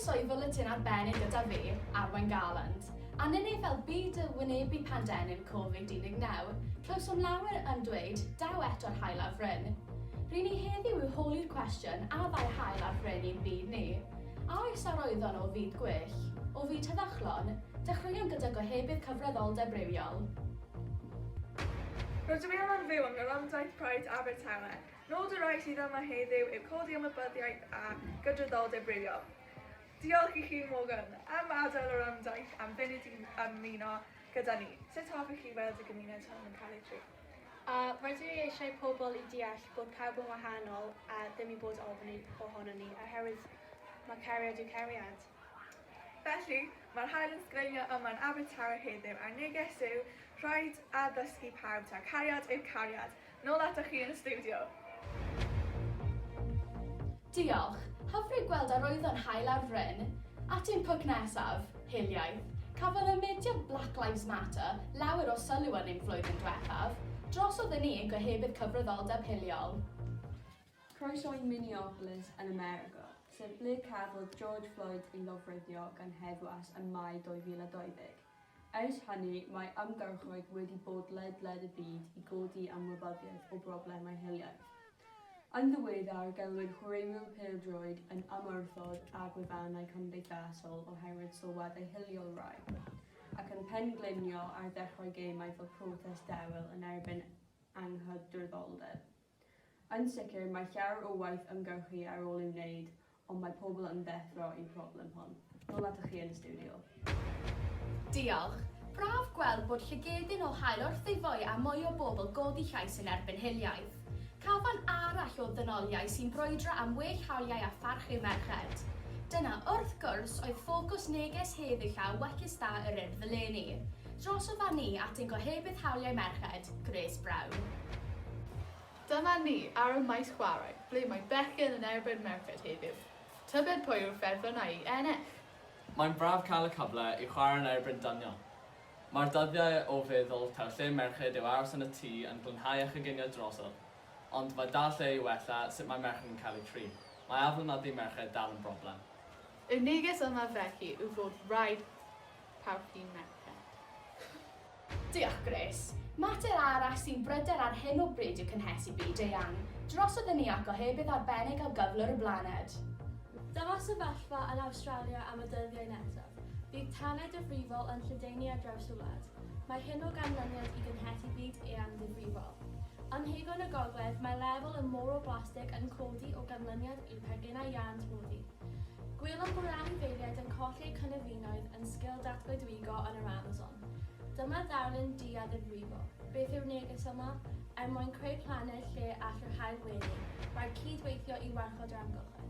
Croeso i Fwletin Arbennig gyda fi, Arwain Garland. Anini fel byd y wynebu pandemig Covid 19, clywsom lawer yn dweud, daw eto'r haul ar fryn. Ry'n ni heddiw i'w holi'r cwestiwn, a ddaw haul ar fryn i'n byd ni? A oes a roeddon o fyd gwell? O fyd heddychlon? Dechreuwn gyda gohebydd cyfreddoldeb rhywiol. Rydw i am ymddeol yn Nyfaldaeth Pride Abertawe. Nod y rai sydd yma heddiw yw codi ymwybyddiaeth a gydraddoldeb rhywiol. Diolch i chi, Morgan, am adael yr Amdaith am funud i ymuno gyda ni. Sut hoffech chi weld y gymuned hwn yn cael ei drin? A rydw i eisiau pobl i deall bod pawb yn wahanol a ddim i bod ofn un ohonon ni, oherwydd mae cariad yw cariad. Felly, mae'r haul yn sgreimio yma yn Abertawe heddiw a'r neges yw, rhaid addysgu pawb taw cariad yw cariad! Nôl atoch chi yn y stiwdio! Diolch. Hyfryd gweld arwyddo'n hael ar fryn. At ein pwc nesaf, hiliaeth. Cafodd y mudiad Black Lives Matter lawer o sylw yn ein flwyddyn dwethaf. Drosodd yn un gohebydd cyfryddoldeb hiliol. Croeso i Minneapolis yn America, sef ble cafodd George Floyd ei lofruddio gan heddwas ym Mai 2020. Ers hynny, mae ymgyrchoedd wedi bod ledled y byd i godi ymwybyddiaeth o broblemau hiliaeth. Yn ddiweddar, gelwid chwaraewyr pêl-droed yn ymwrthod â gwefannau cymdeithasol oherwydd sylwadau hiliol rhai, ac yn pen-gliniol ar ddechrau gêmau fel protest dewel yn erbyn anghydraddoldeb. Yn sicr, mae llawer o waith ymgyrchu ar ôl ei wneud, ond mae pobl yn ddeffro i'r problem hon. Nôl atoch chi yn y stiwdio. Diolch. Braf gweld bod llygedyn o haul wrth ei foi a mwy o bobl godi llais yn erbyn hiliaeth. Cafan arall o ddynoliaeth sy'n brwydro am well hawliau a pharch yw merched. Dyna, wrth gwrs, oedd ffocws neges heddiw llaw wecus da yr Urdd eleni. Drosof â ni at ein Gohebydd Hawliau Merched, Grace Brown. Dyma ni ar y maes chwarae, ble mae bechgyn yn erbyn merched heddiw. Tybed pwy yw'r ffefrynnau i ennill? Mae'n braf cael y cyfle i chwarae yn erbyn dynion. Mae'r dyddiau o feddwl taw lle merched yw aros yn y tŷ yn glanhau a choginio drosodd, ond mae dal lle i wella sut mae merched yn cael eu trin. Mae aflonyddu merched dal yn broblem. Y neges yma felly yw fod rhaid Pawb un merched. Diolch, Grace. Mater arall sy'n bryder ar hyn o bryd yw cynhesu byd eang, drosodd yn iach gohebydd arbennig o gyflwr y blaned. Dyma sefyllfa yn Awstralia am y dyddiau nesaf. Bydd tanau difrifol yn lledaenu ar draws y wlad. Mae hyn o ganlyniad i gynhesu byd eang ddifrifol. Ym mhegon y gogledd, mae lefel y môr o blastig yn codi o ganlyniad i'r paginau iâns moddi. Gwelwn bod anifeiliaid yn colli eu cynefinoedd yn sgil datgoedwigo yn yr Amazon. Dyma ddarlun du a ddifrifol. Beth yw'r neges yma? Er mwyn creu planed lle all yr haul wenu, rhaid cyd-weithio i warchod yr amgylchedd.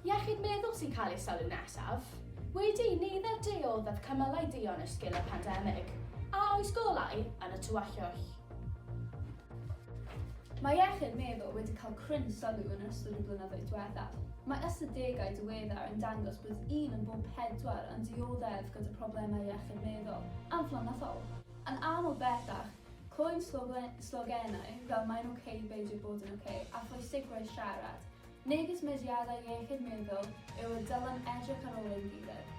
Iechyd meddwl sy'n cael ei sylw nesaf. Wedi i nifer du o ddod cymalau duon yn sgil y pandemig, a oes golau yn y tywyllwch? Mae iechyd meddwl wedi cael cryn sylw yn ystod y blynyddoedd diwethaf. Mae ystadegau diweddar yn dangos bod un yn bob pedwar yn dioddef gyda phroblemau iechyd meddwl amlynyddoel. Yn aml bellach, clywem slogenau fel 'Mae'n ok, beidio bod yn ok' a 'Pwysigrwydd siarad', megis mudiadau iechyd meddwl yw y dylem edrych ar ôl ein gilydd.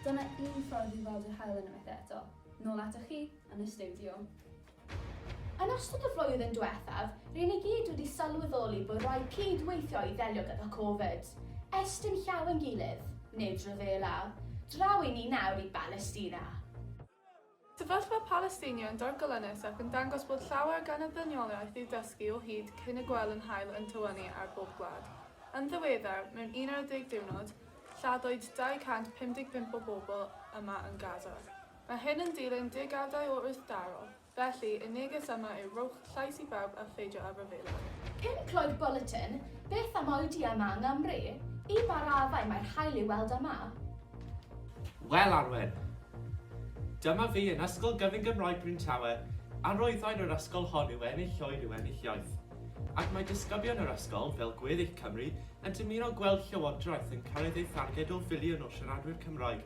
Dyna un ffordd i weld yr haul unwaith eto. Nôl atoch chi, yn y stiwdio. Yn ystod y flwyddyn diwethaf, ry'n ni gyd wedi sylweddoli bod rhaid cyd-weithio i ddelio gyda Covid. Estyn llaw ein gilydd, nid rhyfela. Draw i ni nawr i Balestina. Sefyllfa Palesteina yn dorgolynus ac yn dangos bod llawer gan y ddynoliaeth i'w dysgu o hyd cyn y gwel yn hael yn tywynnu ar bob gwlad. Yn ddiweddar, mewn 11 diwrnod, lladdwyd 255 o bobl yma yn Gaza. Mae hyn yn dilyn degawdau o wrthdaro, felly y neges yma yw rhowch llais i bawb a pheidio â rhyfela. Pum Clod Bwletin, Beth am oedi yma yng Nghymru? I ba raddau mae'r haul i'w weld yma? Wel, Arwen, dyma fi yn Ysgol Gyfun Gymraeg Bryn Tawe, arwyddain yr ysgol hon yw ennill oer yw ennill iaith. Ac mae disgyblion yr ysgol, fel gweddill Cymru, yn dymuno gweld Llywodraeth yn cyrraedd ei tharged o filiwn o siaradwyr Cymraeg.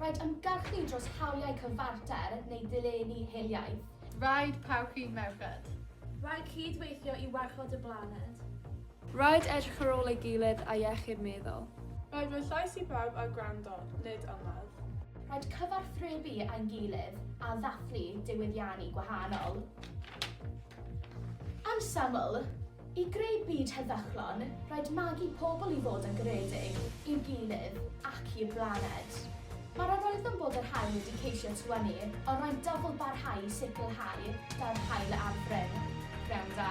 Rhaid ymgyrchu dros hawliau cyfarter neu ddilenni hiliaeth. Rhaid parchu merched. Rhaid cyd-weithio i warchod y blaned. Rhaid edrych ar ôl ei gilydd a iechyd meddwl. Rhaid roi llais i bawb a gwrando, nid ymladd. Rhaid cyfathrebu â'n gilydd a ddathlu diwyddiannu gwahanol. Yn syml, I greu byd heddychlon, rhaid magu pobl i fod yn garedig i'w gilydd ac i'r blaned. Mae'r arolygfan bod yr haul wedi ceisio tywynnu, ond rhaid dyfl barhau i sicrhau daw'r haul ar fryn. Pnawn da.